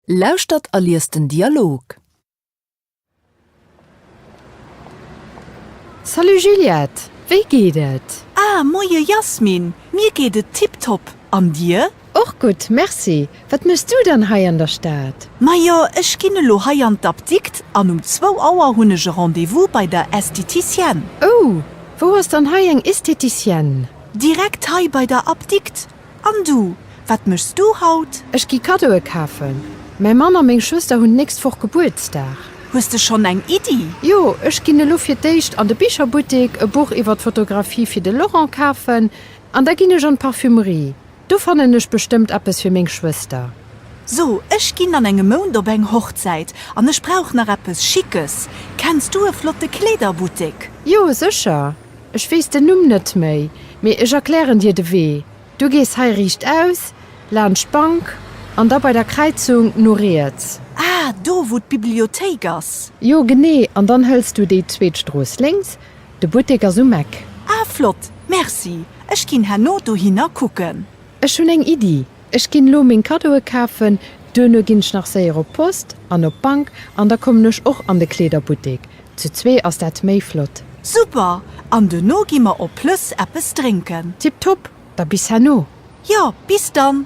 Lauschtert a liest den Dialog. Salut Juliette, wéi geet et? Ah, moie Jasmin, mir geet et tiptop, an dir? Och gutt, merci. Wat méchs du dann hei an der Stad? Majo, ech ginn elo hei an d'Apdikt an um zwou Auer hunn ech e Rendez-vous bei der Estheticienne. Oh, wou ass dann hei eng Estheticienne? Direkt hei bei der Apdikt, An du, wat méchs du haut? Ech gi Kaddoe kafen. Mäi Mann a meng Schwëster hunn d'nächst Woch Gebuertsdag. Hues de schonn eng Iddi? Jo, ech ginn elo fir d'éischt an de Bicherbuttek e Buch iwwer d'Fotografie fir de Laurent kafen. An da ginn ech an d'Parfümerie. Do fannen ech bestëmmt eppes fir meng Schwëster. So, ech ginn an engem Mount op eng Hochzäit an ech brauch nach eppes Schickes. Kenns du e flotte Kleederbuttek? Jo, sécher. Ech weess den Numm net méi, mee ech erklären dir de Wee, Du gees hei riichtaus, laanscht d'Bank, an da bei der Kräizung no riets. Ah, do, wou d'Bibliothéik ass. Jo, genee. An dann hëls du déi zweet Strooss lénks, de Buttek ass um Eck. Ah, flott, merci. Ech ginn herno dohinner kucken. Ech hunn eng Iddi, Ech ginn elo meng Kaddoe kafen, duerno ginn ech nach séier op d'Post an op d'Bank an da kommen ech och an de Kleederbuttek. Zu zwee ass dat méi flott. Super! An duerno gi mer op Plëss eppes drénken. Tiptop! Da bis herno. Jo, bis dann!